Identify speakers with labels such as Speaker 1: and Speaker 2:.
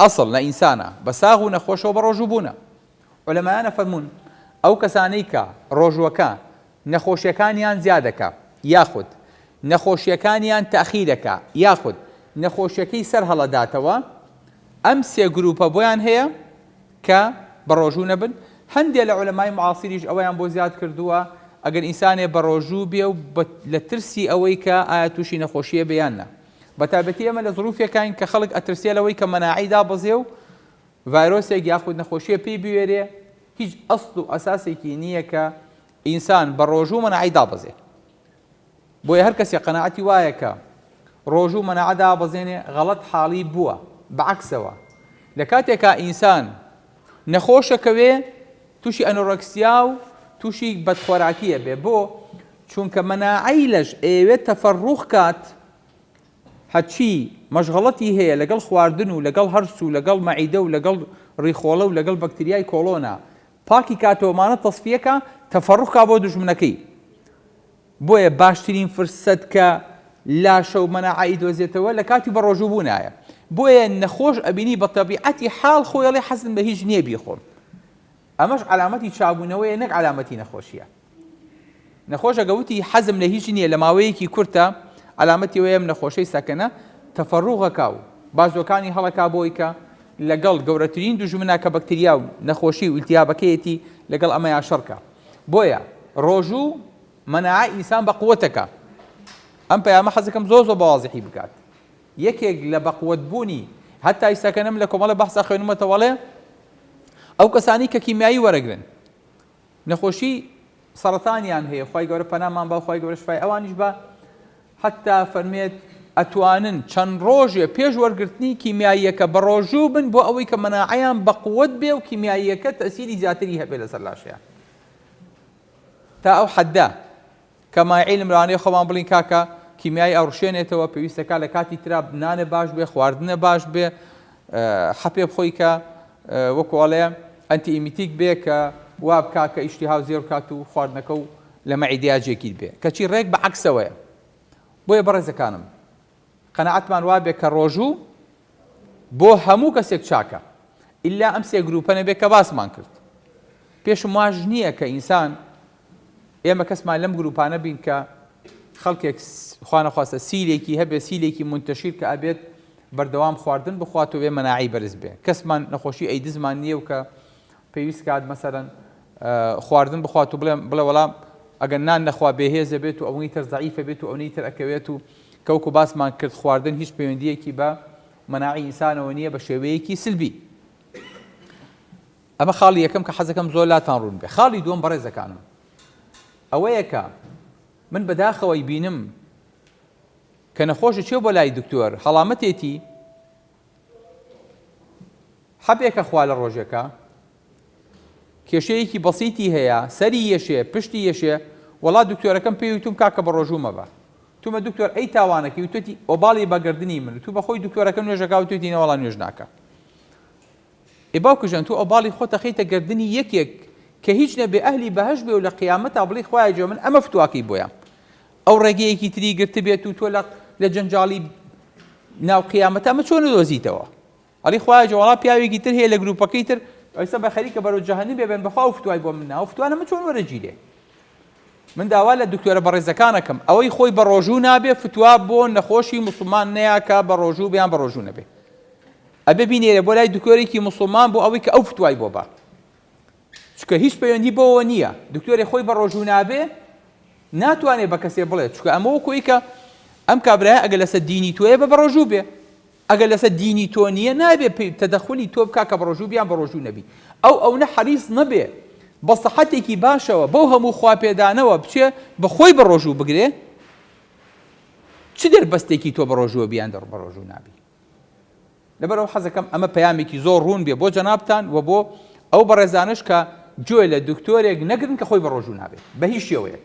Speaker 1: ئەسڵ لە ئینسانە بە ساغ و نەخۆشەوە بە ڕۆژوو بوونە. عولەمایان ئەفەرموون، ئەو کەسانەی کە ڕۆژووەکە نەخۆشیەکانیان زیادەکا یاخود نەخۆشیەکانیان تاخیرەکا یاخود نەخۆشیەکەی سەر هەڵەداتەوە ئەم سێ گروپە بۆیان هەیە کە بە ڕۆژوو نەبن، هەندێ لە عولەمای معاصیریش ئەوەیان بۆ زیاد کردووە ئەگەر ئینسانێ بە ڕۆژوو بێ و لە ترسی ئەوەی کە ئایا تووشی نەخۆشیە بێ یان نا. بەتایبەتی ئێمە لە زروفێکاین کە خەڵک ئەترسێ لەوەی کە مەناعەی دابەزێ و ڤایرۆسێک یاخود نەخۆشیە پێی بوێرێ هیچ ئەسڵ و ئەساسێکی نییە کە ئینسان بە ڕۆژوو مەناعەی دابەزێ بۆیە هەر کەسێ قەنەعەتی وایە کە ڕۆژوو مەناعە دابەزێنێ غەڵەت حاڵی بووە بەعکسەوە لە کاتێکا ئینسان نەخۆشەکەوێ توشی ئەنۆرەکسیا و توشی بەدخۆراکی ئەبێ بۆ چونکە مەناعەی لەش ئەیەوێت تەفەڕوخ کات هەرچی مەشغەڵەتی هەیە لەگەڵ خواردن و لەگەڵ هەرس و لەگەڵ مەعیدە و لەگەڵ ڕیخۆڵە و لەگەڵ بەکتریای کۆڵۆنا پاکی کاتەوە مانە تەسفیەکا تەفەڕوخ کا بۆ دوژمنەکەی بۆیە باشترین فرسەت کە لاشە و مەناعە ئیدۆزێتەوە لە کاتی بە ڕۆژوو بوونایە بۆیە نەخۆش ئەبینی بە تەبیعەتی حاڵ خۆی ئەڵێ حەزم بە هیچ نیە بیخۆم ئەمەش عەلامەتی چابوونەوەیە نەک عەلامەتی نەخۆشیە نەخۆشە گەوتی حەزم لە هیچ نیە لە ماوەیەکی کورتە عەلامەتی وەیەم نەخۆشەی سەکەنە تەفەڕوغەکە و بازوەکانی هەڵەکا بۆی کە لەگەڵ گەورەترین دوژمنە کە بەکتریا و نەخۆشی و التیابەکەیەتی لەگەڵ ئەمەیا شەڕکە بۆیە ڕۆژو مەناعەی ئینسان بەقوەت دەکا ئەم پەیامە حەزەکەم زۆر زۆر بەوازحی بکات یەکێک لە بەقوەت بوونی هەتا ئیساکەنم لە کۆمەڵە بەحسا خوێنمەتەوەڵێ ئەو کەسانی کە کیمیایی وەرەگرن نەخۆشی سەرەتانیان هەیە خی گەورە پەنامان باوخوای گەورە شفای ئەوانیش بە حەتتا فەرمێت ئەتوانن چەند ڕۆژێ پێش وەرگرتنی کیمیاییەکە بەڕۆژوو بن بۆ ئەوەی کە مەناعەیان بەقوەت بێ و کیمیاییەکە تەسیری زیاتری هەبێ لەسەر لاشیان تا ئەو حەددە کە مایعیلم لەوانەیە خۆمان بڵین کاکە کیمیای ئەڕشێنێتەوە پێویستەکە لە کاتی ترا بنانە باش بێ خواردنە باش بێ حەپێ بخۆی کە وەکۆڵێ ئەنتی ئیمیتیک بێ کە وابکا کە ئیشتی هاو زێڕ کات و خواردنەکە و لە مەعیدیا جێگیر بێ کەچی ڕێک بە عەکسەوەیە بۆیە بەڕێزەکانم قەناعەتمان وابێ کە ڕۆژوو بۆ هەموو کەسێک چاکە ئللا ئەم سێ گروپە نەبێ کە باسمان کرد پێشم واش نییە کە ئینسان ئێمە کەسمان لەم گروپانە بین کە خەڵکێک خوانەخواستە سیلێکی هەبێ سیلێکی منتەشیر کە ئەبێت بەردەوام خواردن بخواتەوە بێ مەناعی بەرز بێ کەسمان نەخۆشی ئەیدزمان نییە و کە پێویست کات مەسەلەن خواردن بخوات و بڵێ بڵێ وەڵام ئەگەر نان نەخوا بێهێزە بێت و ئەونی تر زەعیفە بێت و ئەونی تر ئەکەوێت و کەوکو باسمان کرد خواردن هیچ پەیوەندیەکی بە مناعی ئینسانەوە نییە بە شێوەیەکی سلبی ئەمە خاڵی یەکەم کە حەزەکەم زۆر لاتان ڕوون بێ خاڵی دووەم بەڕێزەکانم ئەوەیە کە من بەداخەوەی بینم کە نەخۆش چێ بۆ لای دکتۆر هەڵامەتێتی حەبێکە خوا لە ڕۆژێکا کێشەیەکی بەسیتی هەیە سەری یەشێ پشتی یەشێ وەڵا دکتۆرەکەم پێی وتوم کاکە بە ڕۆژوو مەبە تومە دکتۆر ئەی تاوانەکەی وتێتی ئۆباڵی بەگردنی من تو بەخۆی دکتۆرەکە نوێژەکە وتێتی نەوەڵا نوێژ ناکە ئێ باوکژەن تو ئۆباڵی خۆ تەخیتە گردنی یەکێک کە هیچ نەبێ ئەهلی بەهش بێ و لە قیامەتا بڵی خوایە جۆ من ئەمە فتواکەی بۆیان ئەو ڕێگەیەکی تری گرتبێت و تۆ لە لە جەنجاڵی ناو قیامەت ئەمە چۆن دۆزیتەوە ئەڵی خوای جوڵا پیاوێکی تر هەیە لە گروپەکەی تر ئەوسە بە خەریکە بەرەو جەهنم بێبن بەخوا و فتوای بۆ من ناو فتوانە من چۆن وەرەگیرێ من داوا لە دکتۆرە بەڕێزەکانەکەم ئەوەی خۆی بە ڕۆژوو نابێ فتوا بۆ نەخۆشی مسلمان نەیاکە بە ڕۆژوو بیان بە ڕۆژوو نەبێ ئەبێ بینێرە بۆ لای دکتۆرێکی مسلمان بۆ ئەوەی کە ئەو فتوای بۆ بە چونکە هیچ پەیوەندی بەوەوە نییە دکتۆرێ خۆی بە ڕۆژوو نابێ ناتوانێت بە کەسێ بڵێت چکە ئەمە وەکۆی کە ئەم کابراە ئەگە لەسەر دینی تۆیە بە بەڕۆژوو بێ ئەگەر لەسەر دینی تۆ نییە نابێ تەدەخلی تۆ بک کە بەڕۆژوو بیان بەڕۆژوو نەبی ئەو ئەو نە حەریز نەبێ بە سەحەتێکی باشەوە بەو هەموو خواپێدانەوە بچێ بەخۆی بەڕۆژوو بگرێ چ دەربەستێکی تۆ بەڕۆژووە بیان دەڕ بەڕۆژوو نابی لەبەرئەوە حەزەکەم ئەمە پەیامێکی زۆر ڕوون بێ بۆ جەنابتان و بۆ ئەو بەڕێزانەش کە گوێ لە دکتۆرێک نەگرن کە خۆی بەڕۆژوو نابێت بە هیچ شێوەیەک.